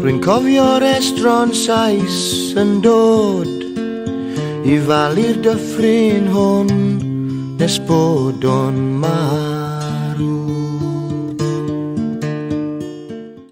Rwy'n cofio'r estron sais yn dod i falu'r dyffryn hwn nes bod o'n marw.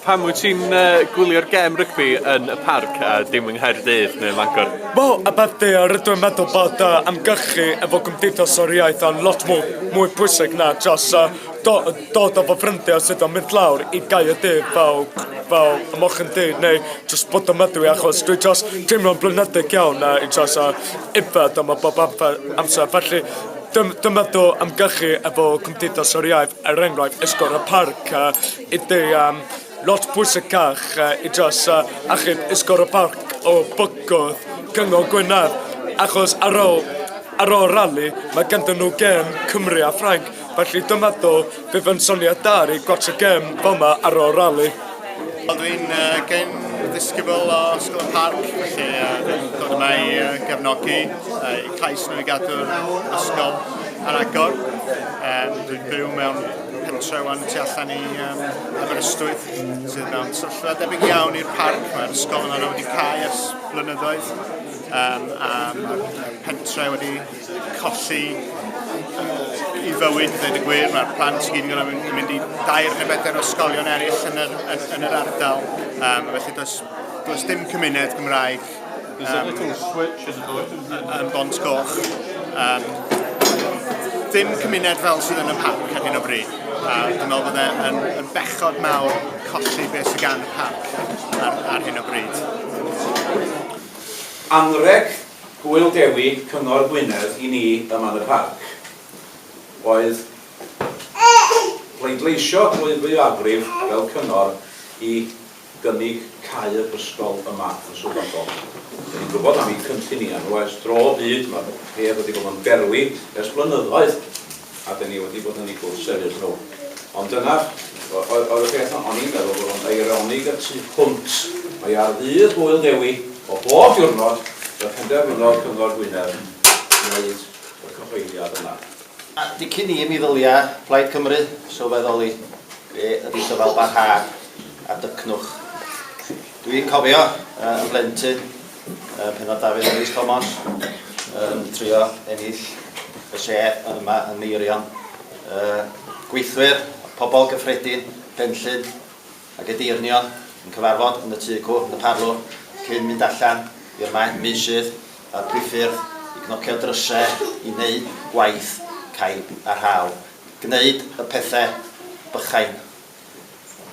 Pam wyt ti'n uh, gwylio'r gem rygbi yn y parc a dim yng Nghaerdydd neu Fangor? Bo, a beth di, a rydw i'n meddwl bod uh, amgylchu efo gymdeithas o'r iaith yn lot mwy, mwy pwysig na just uh, Do, dod efo ffrindiau sydd yn mynd lawr i Gaerdydd fel fel y mochyn du neu jyst bod yn meddwi achos dwi jyst teimlo'n blinedig iawn a i jyst a yfed yma bob amser amser felly dym- dwi'n meddwl ymgyrchu efo Cymdeithas yr Iaith er enghraifft Esgob y Parc a i dy yym lot pwysicach yy i jyst yy achub Esgob y Parc o bygwth Cyngor Gwynedd achos ar ôl ar ôl rali ma' ganddyn nhw gêm Cymru a Ffrainc. Felly dyma ddo, bydd yn syniad da rei gwatsio gem fel ma ar ol rali. Wel dwi'n uh, gen ddisgybl o Ysgol y Parc, felly uh, dwi'n dod yma i uh, gefnogi, uh, i cais nhw i gadw'r ysgol ar agor. Um, dwi'n byw mewn pentre wan tu allan i um, Aberystwyth, sydd mewn sylllfa debyg iawn i'r parc. Mae'r ysgol yma wedi cael ers blynyddoedd um, a mae'r pentre wedi colli i fywyd, dweud y gwir. Mae'r plant i gyd yn mynd, mynd i dair neu bedair o ysgolion eraill yn yr, yn, yn yr ardal. Um, felly does, does dim cymuned Gymraeg um, yn Bont Coch. Um, dim cymuned fel sydd yn y parc ar hyn o bryd. A dwi'n meddwl bod e'n yn, yn bechod mawr colli beth sydd gan y parc ar, ar hyn o bryd. Anreg Hwyl Dewi Cyngor Gwynedd i ni ym Man y Parc oedd pleidleisio drwy fwyafrif fel cyngor i gynnig cau yr ysgol yma yn Sir Fynbo. Dyn ni'n gwybod am eu cynlluniau nhw ers dro o hyd, mae'r peth wedi bod yn berwi ers blynyddoedd. A dan ni wedi bod yn eu gwrthsefyll nhw. Ond dyna oedd y peth o'n i'n meddwl bod o'n eironig y tu hwnt. Mae ar ddydd Hwyl Ddewi o bob diwrnod y penderfynodd Cyngor Gwynedd wneud y cyhoeddiad yma. A dicyn i mi ddylia Plaid Cymru sylweddoli be ydy dyfalbarhad a dycnwch. Dwi'n cofio yn blentyn uh, Penod Dafydd Rhys Thomas, yn trio ennill y lle yma yn Meirion. Uh, gweithwyr, pobl gyffredin, benllyn ac edeirnion yn cyfarfod yn y tŷ cw, yn y parlwr, cyn mynd allan i'r maen meusydd a'r priffyrdd i gnocio drysau i wneud gwaith caib a rhaw. Gwneud y pethau bychain.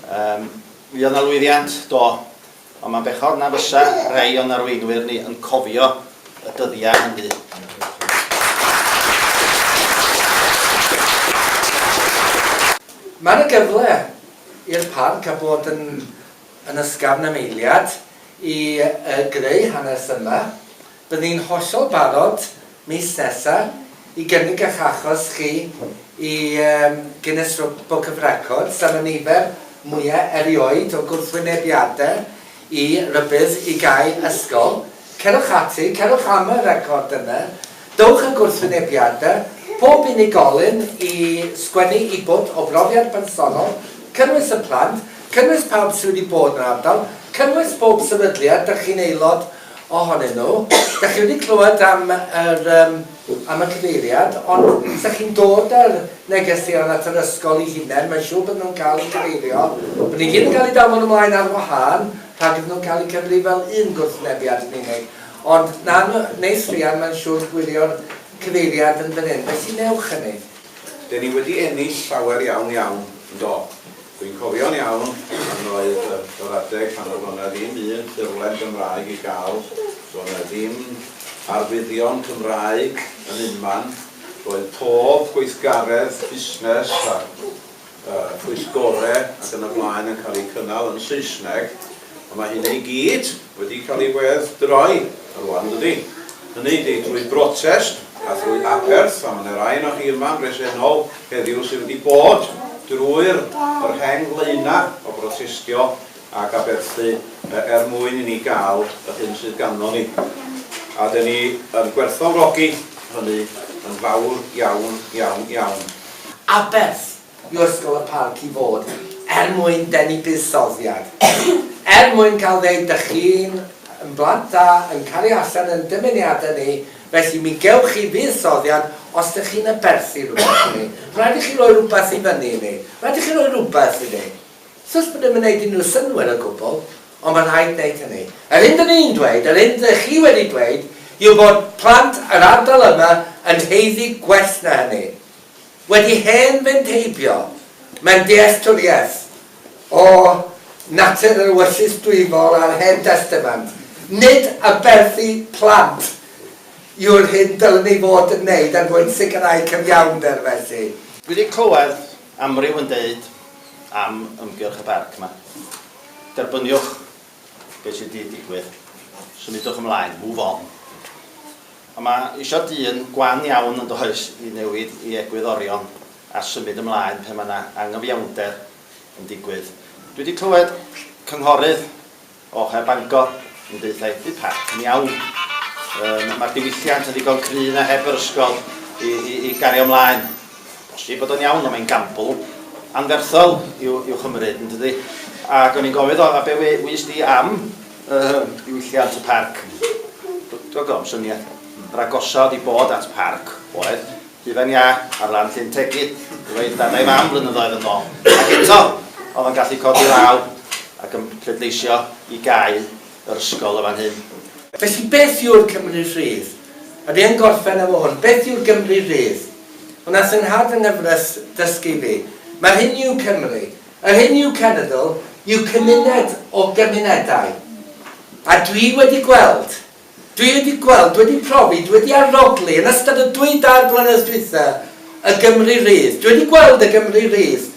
Um, mi oedd yna lwyddiant, do, Ond mae'n bechod na fysa rhai o'n arweinwyr ni yn cofio y dyddiau hynny. Mae yna gyfle i'r parc a bod yn yn ysgafn am eiliad i yy greu hanes yma Bydd ni'n hollol barod mis nesa i gynnig ych achos chi i Guinness Book of Records am y nifer mwya erioed o gwrthwynebiade i rybudd i gau ysgol. Cerwch ati, cerwch am y record yna, dowch a gwrthwynebiade pob unigolyn i sgwennu i bwt o brofiad personol, cynnwys y plant, cynnwys pawb sy wedi bod yn ardal, cynnwys pob sefydliad dych chi'n aelod ohonyn nhw. Dach chi wedi clywed am yr yym am y cyfeiriad ond os dach chi'n dod â'r negeseuon at yr ysgol i hunen mae'n siŵr bod nhw'n cael eu cyfeirio bod nhw gyd yn cael eu danfon ymlaen ar wahân rhag iddyn nhw cael eu cyfri fel un gwrthwynebiad yn unig ond na neis Rhian mae'n siŵr gwylio'r cyfeiriad yn fan hyn felly newch hynny. Dyn ni wedi ennill llawer iawn iawn, yn do? Dwi'n cofio'n iawn pan oedd yr adeg pan oedd o'na ddim un ffurflen Gymraeg i gael, doedd 'na ddim arwyddion Cymraeg yn unman, roedd pob gweithgaredd busnes a phwyllgorau ac yn y blaen yn cael eu cynnal yn Saesneg, A mae hynny i gyd wedi cael ei wedd-droi rwan, yn dydi? Hynny ydi, drwy brotest a thrwy aberth, a mae 'na rai onoch chi yma yn bresennol heddiw sydd wedi bod drwy'r yr hen flaenau o brotestio ac aberthu er mwyn i ni gael yr hyn sydd ganddo ni. A 'den ni yn gwerthfawrogi hynny yn fawr iawn, iawn, iawn. Aberth, i ysgol y parc i fod er mwyn denu buddsoddiad, er mwyn cael ddeud dych chi'n yn blant da yn cario allan yn dymuniadau ni, felly mi gewch chi fuddsoddiad os dych chi'n aberthu rhywbeth i ni. Rhaid i chi roi rhywbeth i fyny i ni. Rhaid i chi roi rhywbeth i ni. Sut bod ddim yn gwneud unrhyw synnwyr o gwbl, ond mae rhaid gwneud hynny. Yr hyn dyn ni'n dweud, yr hyn dych chi wedi dweud, yw bod plant yr ardal yma yn haeddu gwell na hynny. Wedi hen fynd heibio, mae'n dealltwriaeth o natur yr ewyllys dwyfol a'r Hen Destament. Nid aberthu plant yw'r hyn dylem ei fod yn wneud er mwyn sicrhau cyfiawnder, felly. Dwi wedi clywed amryw yn deud am ymgyrch y parc 'ma. Derbyniwch. be sydd di digwydd. Symudwch ymlaen, move on. A mae eisiau dyn gwan iawn yn does i newid i egwyddorion a symud ymlaen pe mae yna angyfiawnder yn digwydd. Dwi wedi clywed cynghorydd o Her Bangor yn deuthau, bydd Pat yn iawn. Um, Mae'r diwylliant yn ddigon cryf na heb yr ysgol i, i, i gario ymlaen. Felly bod o'n iawn ond mae'n gambl anferthol i'w i'w chymryd yn dydi? Ac o'n i'n gofyn o a be we- wys di am yym diwylliant y parc? Dw- dw- gofn syniad. Yr agosa oedd i bod at parc oedd hufen iâ ar lan Llyn Tegid efo ei dad a'i fam flynyddoedd yn ôl ac eto oedd o'n gallu codi law ac yn pleidleisio i gau yr ysgol yn fan hyn. Felly beth yw'r Cymru rhydd? A dwi yn gorffen efo hwn, beth yw'r Gymru rhydd? Ond aeth fy nhad yn nyfrys dysgu fi. Mae'r hyn yw Cymru. Yr hyn yw cenedl yw cymuned o gymunedau. A dwi wedi gweld, dwi wedi gweld, dwi wedi profi, dwi wedi arogli yn ystod y dwy dair blynedd dwytha y Gymru rydd. Dwi wedi gweld y Gymru rydd.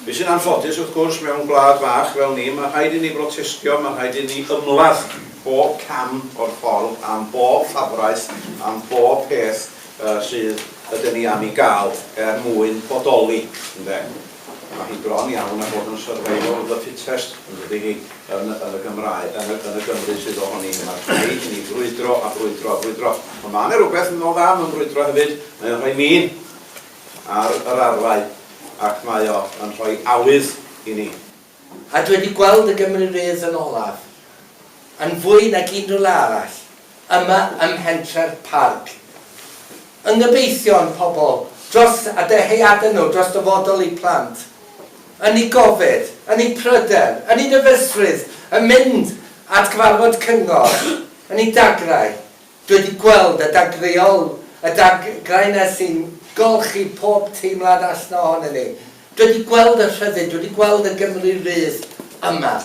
Be sy'n anffodus, wrth gwrs, mewn gwlad fach fel ni, mae rhaid i ni brotestio, mae rhaid i ni ymladd bob cam o'r ffordd, am bob llafraeth, am bob peth, sydd ydyn ni am ei gael er mwyn bodoli, ynde? Mae hi bron iawn â bod yn survival of the fittest, yn dydi hi, yn y yn y Gymraeg, yn y yn y Gymru sydd ohoni ni. Mae rhaid i ni frwydro a brwydro a brwydro. Ond mae yna rhywbeth yn ôl dda mewn brwydro hefyd, mae o'n rhoi min ar yr arfau ac mae o yn rhoi awydd i ni. A dwi wedi gweld y Gymru Rydd yn olaf, yn fwy nag unrhyw le arall, yma ym mhentref Parc y Ngyfeillion, pobl, dros a dyheadau nhw, dros dyfodol eu plant, yn eu gofid, yn eu pryder, yn eu dyfeisrwydd, yn mynd at gyfarfod cyngor, yn eu dagrau. Dwi 'di gweld y dadleuol, y dagrau 'na sy'n golchi pob teimlad allan ohonyn ni. Dwi 'di gweld y rhyddid, dwi 'di gweld y Gymru rydd yma.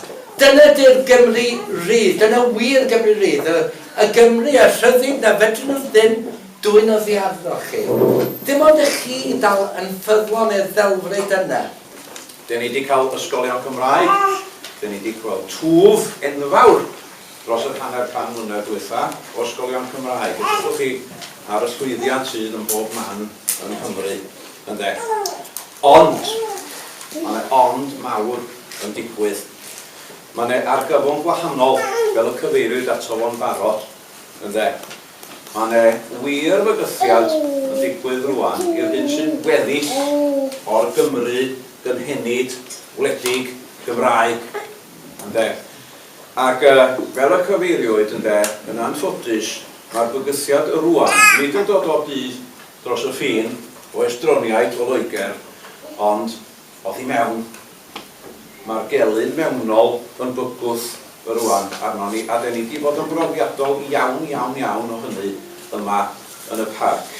Dyna 'di'r Gymru rydd, dyna wir Gymru rydd, y y Gymru, y rhyddid 'na fedryn nhw ddim dwyn oddi arnoch chi. Dim ond i chi ddal yn ffyddlon i'r ddelfryd yna. Dyn ni 'di cael ysgolion Cymraeg, dyn ni 'di gweld twf enfawr Dros yr hanner can mlynedd dwytha, o ysgolion Cymraeg, edrychwch chi ar y llwyddiant sydd ym mhob man yng Nghymru, ynde? Ond, ma' 'ne ond mawr yn digwydd. Ma' 'ne argyfwng gwahanol, fel y cyfeiriwyd ato fo'n barod, ynde? Ma' 'ne wir fygythiad yn digwydd rŵan i'r hyn sy'n weddill o'r Gymru gynhenid, wledig, Gymraeg, ynde? Ac, fel y cyfeiriwyd, ynde, yn anffodus, mae'r bygythiad rŵan nid yn dod o byd dros y ffin, o estroniaid o Loegr, ond oddi mewn. Mae'r gelyn mewnol yn bygwth rŵan arnon ni, a 'den ni 'di bod yn brofiadol iawn, iawn, iawn o hynny yma yn y Parc.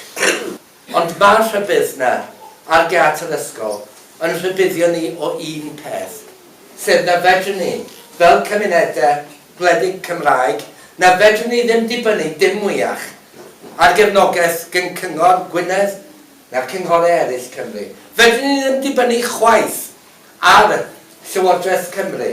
Ond mae'r rhybudd 'na ar gât yr ysgol yn rhybuddio ni o un peth, sef na fedrwn ni, fel cymunedau gwledig Cymraeg, na fedrwn ni ddim dibynnu dim mwyach ar gefnogaeth gan Cyngor Gwynedd na'r cynghorau eraill Cymru. Fedrwn ni ddim dibynnu chwaith ar Llywodraeth Cymru.